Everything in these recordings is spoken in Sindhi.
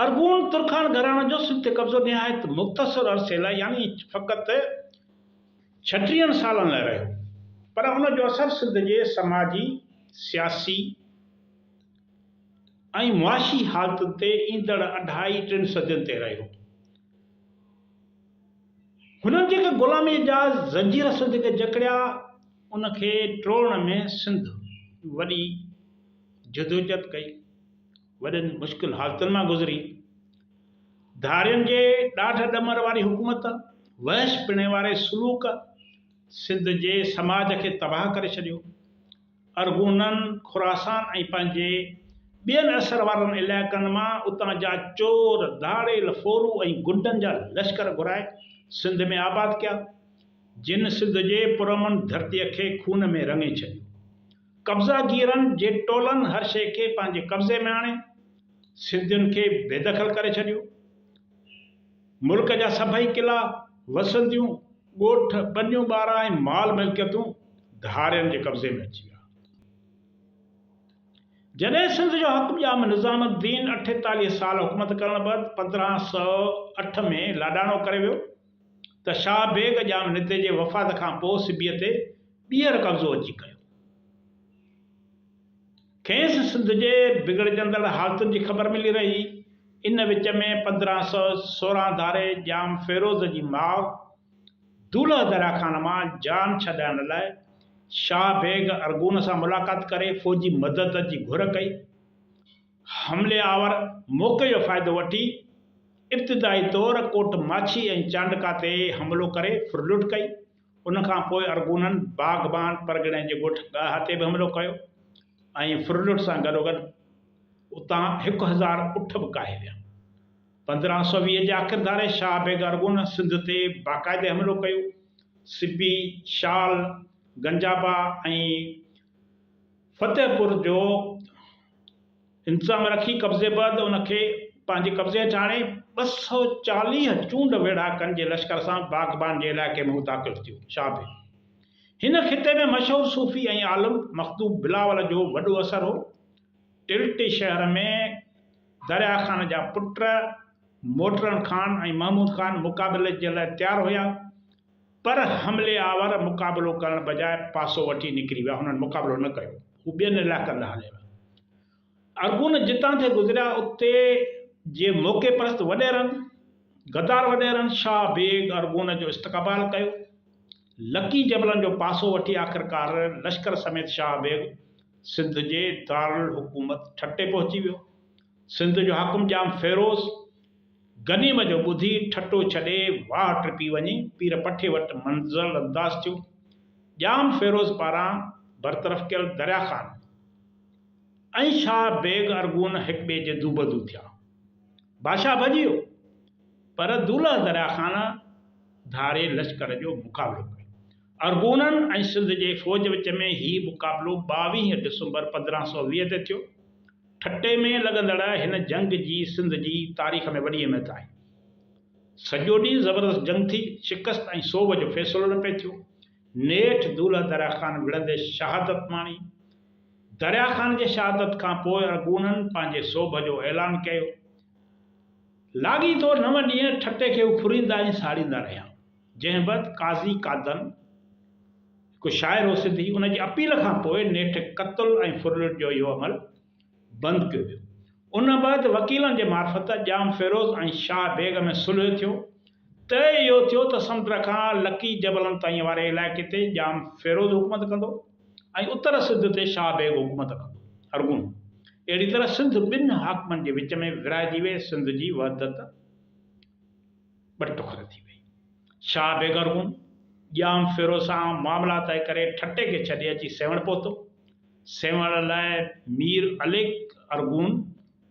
ارغون ترخان گهراڻي جو سنڌ تي قبضو نهايت مختصر عرصي لاء يعني فقط ڇٽيهن سالن لاء رهيو، پر ان جو اثر سنڌ جي سماجي، سياسي ۽ معاشي حالتن تي ايندڙ اڍائي ٽن صدين تي رهيو. هنن جيڪي غلاميء جا زنجير سنڌ کي جڪڙيا، ان کي ٽوڙڻ ۾ سنڌ وڏي جدوجھد ڪئي، وڏين مشڪل حالتن مان گذري، ڌارين جي ڏاڍ ڏمر واري حڪومت، وحش پڻي واري سلوڪ سنڌ جي سماج کي تباهه ڪري ڇڏيو. ارغونن، خراسان ۽ پنهنجي ٻين اثر وارن علائقن مان اتان جا چور، ڌاڙيل، ڦورو ۽ غنڊن جا لشڪر گهرائي سنڌ ۾ آباد ڪيا، جن سنڌ جي پرامن ڌرتيء کي خون ۾ رڱي ڇڏيو. قبضا گيرن جي ٽولن هر شيء کي پنهنجي قبضي ۾ آڻي، سنڌين کي بيدخل ڪري ڇڏيو. ملڪ جا سڀئي قلعا، وسنديون، ڳوٺ، ٻنيون ٻارا ۽ مال ملڪيتون ڌارين جي قبضي ۾ اچي ويا. جڏهن سنڌ جو حق ڄام نظام الدين اٺيتاليهه سال حڪومت ڪرڻ بعد پندرهن سؤ اٺ ۾ لاڏاڻو ڪري ويو ته شاهه بيگ ڄام نتي جي وفات کان پوء سبيء تي ٻيهر قبضو اچي ڪيو. کيس سنڌ جي بگڙجندڙ حالتن جي خبر ملي رهي. ان وچ ۾ پندرهن سؤ سورهن ڌاري ڄام فيروز جي ماء دولهه دريا خان مان جان ڇڏائڻ لاء شاهه بيگ ارغون سان ملاقات ڪري فوجي مدد جي گهر ڪئي. حملي آور موقعي جو فائدو وٺي ابتدائي طور ڪوٽ ماڇي ۽ چانڊڪا تي حملو ڪري ڦرلٽ ڪئي. ان کان پوء ارغونن باغبان پرڳڻي جي ڳوٺ ڳاها تي به حملو ڪيو ۽ فرلوٽ سان گڏوگڏ اتان هڪ هزار اٺ به ڪاهي ويا. پندرهن سؤ ويهه جي آخر ڌاري شاهه بيگ ارغون سنڌ تي باقاعدي حملو ڪيو. سبي، شال، گنجابا ۽ فتح پور جو انتظام رکي قبضي بعد ان کي پنهنجي قبضي هيٺ آڻي ٻه سؤ چاليهه چونڊ ويڙهاڪن جي لشڪر سان باغبان جي علائقي ۾ هو داخل ٿيو. شاهه هن خطي ۾ مشهور صوفي ۽ عالم مخدوم بلاول جو وڏو اثر هو. ٽلٽي شهر ۾ دريا خان جا پٽ موٽرن خان ۽ محمود خان مقابلي جي لاء تيار هيا. پر حملي آور مقابلو ڪرڻ بجاء پاسو وٺي نڪري ويا، هنن مقابلو نه ڪيو، هو ٻين علائقن ڏانهن هليا ويا. ارغون جتان ٿي گذريا اتي جي موقعي پرست وڏيرن، غدار وڏيرن شاهه بيگ ارغون جو استقبال ڪيو. لڪي جبلن جو پاسو وٺي آخرڪار لشڪر سميت شاهه بيگ سنڌ جي دارالحڪومت ٺٽي پهچي ويو. سنڌ جو حاڪم ڄام فيروز غنيم جو ٻڌي ٺٽو ڇڏي واهه ٽپي وڃي پير پٺي وٽ منزل انداز ٿيو. ڄام فيروز پاران برطرف ڪيل دريا خان ۽ شاهه بيگ ارغون هڪ ٻئي جي دوبدو ٿيا. بادشاهه ڀڄي ويو پر دولهه دريا خان ڌاري لشڪر جو مقابلو ڪيو. ارغونن ۽ سنڌ جي فوج وچ ۾ هي مقابلو ٻاويهه ڊسمبر پندرهن سؤ ويهه تي ٿيو. ٺٽي ۾ لڳندڙ هن جنگ جي سنڌ جي تاريخ ۾ وڏي اهميت آهي. سڄو ڏينهن زبردست جنگ ٿي، شڪست ۽ سوڀ جو فيصلو نه پئي ٿيو. نيٺ دولهه دريا خان وڙهندي شهادت ماڻي. دريا خان جي شهادت کان پوء ارغونن پنهنجي سوڀ جو اعلان ڪيو. لاڳيتو نو ڏينهن ٺٽي کي اڦريندا ۽ ساڙيندا رهيا. جنهن بعد قاضي قادن، هڪ شاعر هو سنڌي، ان جي اپيل کان پوء نيٺ قتل ۽ ڦرلٽ جو اهو عمل بند ڪيو ويو. ان بعد وڪيلن جي معرفت ڄام فيروز ۽ شاهه بيگ ۾ صلح ٿيو. طئي اهو ٿيو ته سمنڊ کان لڪي جبلن تائين واري علائقي تي ڄام فيروز حڪومت ڪندو ۽ اتر سنڌ تي شاهه بيگ حڪومت ڪندو. ارغون اهڙي طرح سنڌ ٻن حاڪمن جي وچ ۾ ورهائجي ويئي سنڌ جي وحدت، ٻه ٽڪر ٿي وئي. شاهه بيگر هوم ڄام ڦيرو سان معاملا طئي ڪري ٺٽي کي ڇڏي اچي سيوهڻ پهتو. سيوهڻ لاء مير عليڪ ارغون،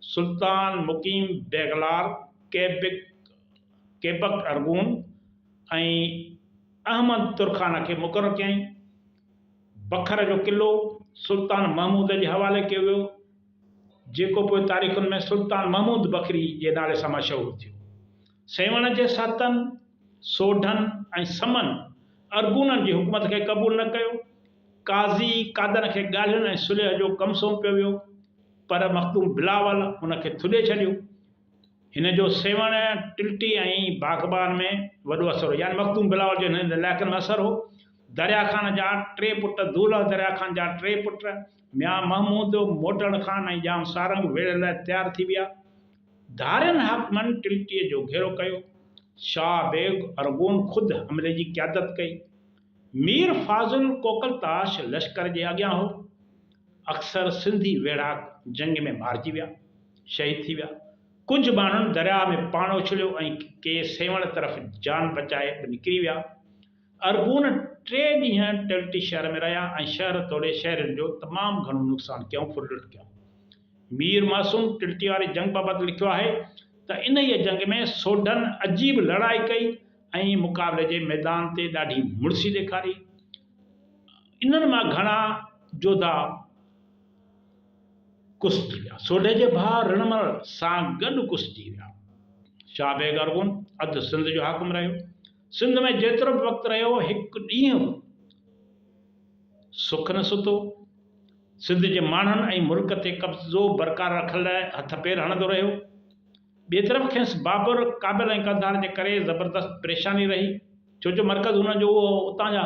سلطان مقيم بيگلار، ڪيبڪ، Quebec، ارغون ۽ احمد ترخان کي مقرر ڪيائين. بکر جو قلعو سلطان محمود جي حوالي ڪيو ويو. جيڪو پوء تاريخن ۾ سلطان محمود بکري جي نالي سان مشهور ٿيو. سيوهڻ جي سهتن، سوڍن ۽ سمن ارغونن جي حڪومت کي قبول نه ڪيو. قاضي قادن کي ڳالهين ۽ صلح جو ڪم سونپيو ويو، پر مخدوم بلاول هن کي ٿڏي ڇڏيو. هن جو سيوهڻ، ٽلٽي ۽ باغبان ۾ وڏو اثر هو، يعني مخدوم بلاول جو هنن علائقن ۾ اثر هو. دريا خان جا ٽي پٽ، دولهه دريا خان جا ٽي پٽ، ميان محمود موٽڻ خان ۽ ڄام سارنگ ويڙهه لاء تيار ٿي ويا. ڌارين حاڪمن ٽلٽيء جو گهيرو ڪيو. شاهه بيگ ارغون خود حملي جي قيادت ڪئي. مير فاضل ڪوڪلتاش لشڪر جي اڳيان هو. اڪثر سنڌي ويڙهاڪ جنگ ۾ مارجي ويا، شهيد ٿي ويا. ڪجهه ماڻهن درياهه ۾ پاڻ اڇليو ۽ ڪي سيوهڻ طرف جان بچائي به نڪري ويا. ارغون ٽي ڏينهن ٽيلٽي شهر ۾ رهيا ۽ شهر توڙي شهرين جو تمام گهڻو نقصان ڪيائون ڦر لٽ ڪيائون. مير معصوم ٽيلٽي واري جنگ بابت لکيو آهي ته انهيء جنگ ۾ سوڍن عجيب لڙائي ڪئي ۽ مقابلي جي ميدان تي ڏاڍي مڙسي ڏيکاري. انهن مان گهڻا جوڌا ڪسجي ويا. سوڍي جي ڀاء رڻمل سان گڏ ڪسجي ويا. شاهه بيگ ارغون اڌ سنڌ جو حاڪم رهيو. سنڌ ۾ جيترو به وقت رهيو، هڪ ڏينهن به سک نه ستو. سنڌ جي ماڻهن ۽ ملڪ تي قبضو برقرار رکڻ لاء هٿ پير هڻندو رهيو. ٻئي طرف کيس بابر، ڪابل ۽ قنڌار جي ڪري زبردست پريشاني رهي، ڇو جو مرڪز هن جو اهو اتان جا